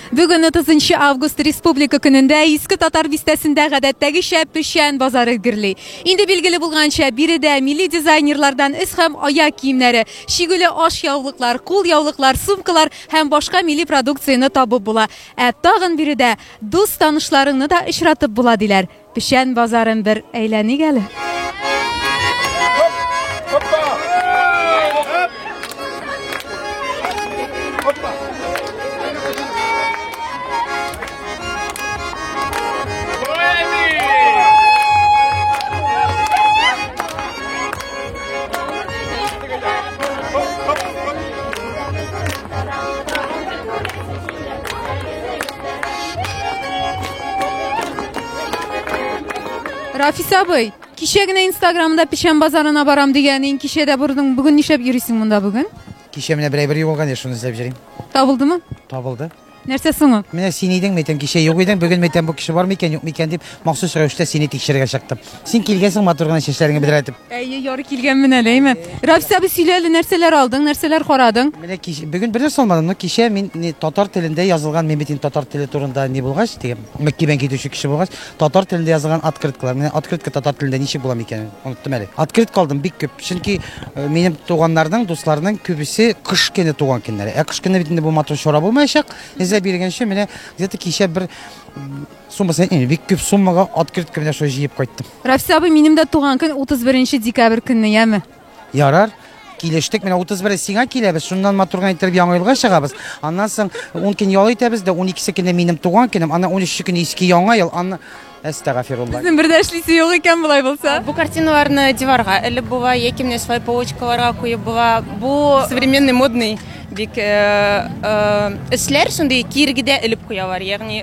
Бүген 30 август республика көнендә Иске Татар бистәсендә гадәттәгечә печән базары гөрли. Инде билгеле булганча, биредә милли дизайнерлардан эс һәм аяк киемнәре, чигүле аш яулыклар, кул яулыклар, сумкалар һәм башка милли продукцияне табып була. Ә тагын биредә дус-танышларыңны да очратып була, диләр. Печән базарын бер әйләник әле. Рафис абый, кичә генә Инстаграмда печән базарына барам дигәнең, кичә дә бардың. Бүген нишләп йөрисең монда бүген? Кичә менә берәй бер югалган я шуны эзләп йөрим. Табылдымы? Табылды. Нәрсә соң ул? Менә син идең, мәйтәм, кичә юк идең, бүген мәйтәм бу кеше бар микән, юк микән дип, махсус рәвештә сине тикшерергә чыктым. Син килгәнсең матур гына чәчләреңне бедрәтеп. Әйе, яры килгәнмен әле, әймәт. Рафис абый сөйлә әле, нәрсәләр алдың, нәрсәләр карадың? Менә кич, бүген бер нәрсә алмадым, но кичә мин не, татар телендә язылган, мин бит инде татар теле турында не булгач, дигән, мәктәбен китүче кеше булгач, татар телендә язылган открыткалар. Менә открытка татар телендә ничек була микән? Оныттым әле. Открытка алдым бик күп. Чөнки э, минем туганнарның, дусларның күбесе кыш көне туган көннәре. Ә кыш көне бит инде бу матур чара булмаячак. Эзләп йөргәнче менә где-то кичә бер Сумма сәйт инде, бик күп суммага открытка белән шулай җыеп кайттым. Рафис абый, минем дә туган көн 31 декабрь көнне, яме? Ярар, килештек. Менә 31 сиңа киләбез, шуннан матур гына иттереп Яңа елга чыгабыз. Аннан соң 10 көн ял итәбез дә, 12 көне минем туган көнем, аннан 13 көне иске Яңа ел, аннан Әстәгафирулла. Безнең бер дә эшлисе юк икән болай булса. Бу картиналарны диварга элеп була, яки менә шулай полочкаларга куеп була. Бу современный модный бик эшләр, шундый киргедә элеп куялар, ягъни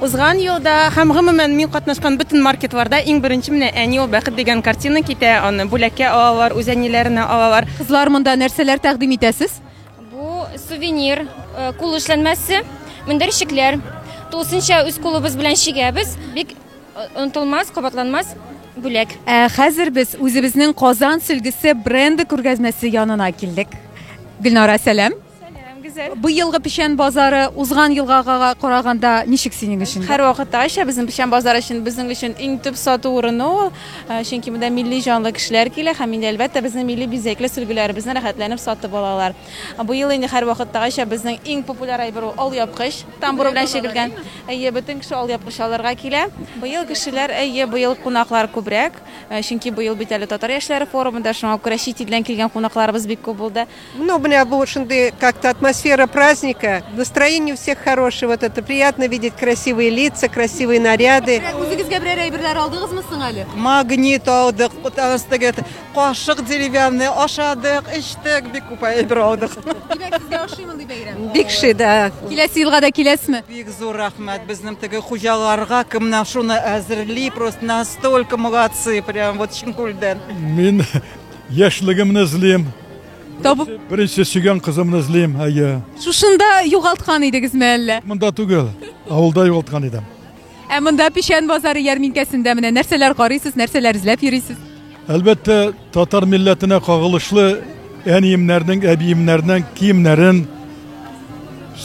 Узган елда һәм гомумән мин катнашкан бөтен маркетларда иң беренче менә Әни ул бәхет дигән картина китә, аны бүләккә алалар, үз әниләренә алалар. Кызлар, монда нәрсәләр тәкъдим итәсез? Бу сувенир, кул эшләнмәсе, мендәрчекләр. Тулысынча үз кулыбыз белән чигәбез. Бик онытылмас, кабатланмас бүләк. Ә хәзер без үзебезнең Казан сөлгесе бренды күргәзмәсе янына килдек. Гөлнара, сәлам! Сәлам, Гүзәл. Быелгы печән базары узган елгага караганда ничек синең өчен? Һәр вакыттагыча безнең печән базары өчен безнең өчен иң төп сату урыны ул. Э, чөнки монда милли җанлы кешеләр килә һәм инде әлбәттә безнең милли бизәкле сөлгеләребезне рәхәтләнеп сатып алалар. Быел инде һәр вакыттагыча безнең иң популяр әйбер ул алъяпкыч. Тамбур белән чигелгән. Әйе, бөтен кеше алъяпкыч алырга килә. Быел кешеләр, әйе, быел кунаклар күбрәк. Э, чөнки быел бит әле татар яшьләре форумында, шуңа күрә чит илдән килгән кунакларыбыз бик күп булды. Ну, у меня был шунды как-то атмосфера праздника. Настроение у всех хорошее. Вот это приятно видеть красивые лица, красивые наряды. Үзегезгә берәр әйберләр алдыгызмы соң әле? Магнит алдык, астыгы кашык деревянный, ашадык, эчтек, бик күп әйбер алдык. Димәк, сезгә ошый мондый бәйрәм? Бик ши, да. Киләсе елга да киләсезме? Бик зур рәхмәт безнең теге хуҗаларга, кем менә шуны әзерли, просто настолько молодцы, прям вот чын күлдән. Мин Яшьлегемне эзлим. Табып. Беренче сөйгән кызымны эзлим, әйе. Шушында югалткан идегезме әллә? Монда түгел, авылда югалткан идем. Ә монда Печән базары ярминкәсендә менә нәрсәләр карыйсыз, нәрсәләр эзләп йөрисез? Әлбәттә, татар милләтенә кагылышлы әниемнәрнең, әбиемнәрнең киемнәрен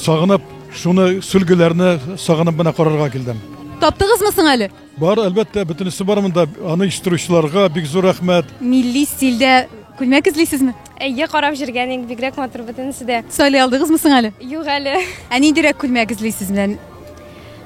сагынып, шуны сүлгеләрне сагынып менә карарга килдем. Таптыгызмы соң әле? Бар, әлбәттә, бөтенесе бар монда. Аны оештыручыларга бик зур рәхмәт. Милли стильдә күлмәк эзлисезме? Әйе, карап җөргән инде, бигрәк матур бөтенесе дә. Сайлый алдыгызмы соң әле? Юк әле. Ә ниндирәк күлмәк эзлисез менә?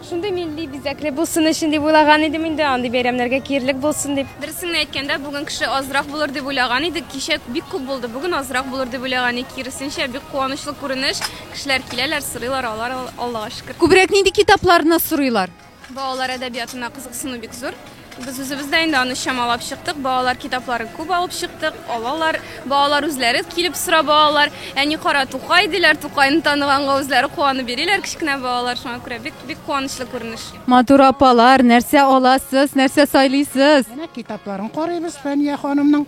Шундый милли бизәкле булсын өчен дип уйлаган идем инде, андый бәйрәмнәргә киярлек булсын дип. Дөресен әйткәндә, бүген кеше азрак булыр дип уйлаган идек. Кичә бик күп булды, бүген азрак булыр дип уйлаган идек. Киресенчә, бик куанычлы күренеш. Кешеләр киләләр, сорыйлар, алар, Аллага шөкер. Күбрәк нинди китапларны сорыйлар? Балалар әдәбиятына кызыксыну бик зур. Без үзебез дә инде аны чамалап чыктык. Балалар китапларын күп алып чыктык, алалар. Балалар үзләре килеп сорап алалар. Әни кара Тукай диләр, Тукайны таныганга үзләре куанып йөриләр кечкенә балалар. Шуңа күрә бик бик куанычлы күренеш. Матур апалар, нәрсә аласыз, нәрсә сайлыйсыз? Менә китапларын карыйбыз Фәния ханымның.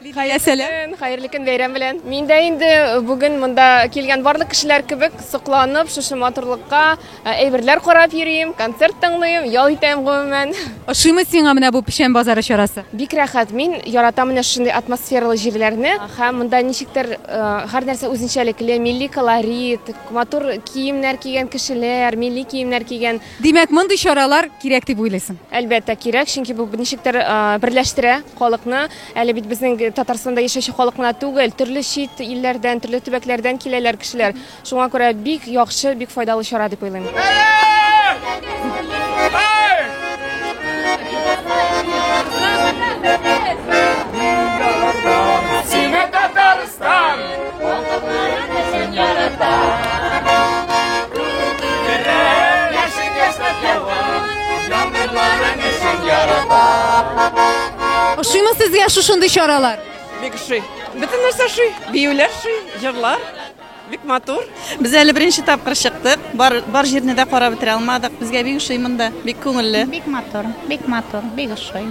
Хәерле көн, хәерле көн, бәйрәм белән. Мин дә инде бүген монда килгән барлык кешеләр кебек сокланып, шушы матурлыкка әйберләр карап йөрим, концерт тыңлыйм, ял итәм гомумән. Ошыймы сиңа менә бу печән базары чарасы? Бик рәхәт, мин яратам менә шундый атмосфералы җирләрне. Һәм монда ничектер һәр нәрсә үзенчәлекле, милли колорит, матур киемнәр кигән кешеләр, милли киемнәр кигән Димәк, мондый чаралар кирәк дип уйлыйсың? Әлбәттә, кирәк, чөнки бу ничек тә берләштерә халыкны. Әле бит безнең Татарстанда яшәүче халык кына түгел, төрле чит илләрдән, төрле төбәкләрдән киләләр кешеләр. Шуңа күрә бик яхшы, бик файдалы чара дип уйлыйм. Ошыймы сезгә шушындый чаралар? Бик ошый. Бөтен нәрсә ошый. Биюләр ошый, җырлар. Бик матур. Без әле беренче тапкыр чыктык. Бар, бар җирне дә карап бетерә алмадык. Безгә бик ошый монда. Бик күңелле. Бик матур. Бик матур. Бик ошый.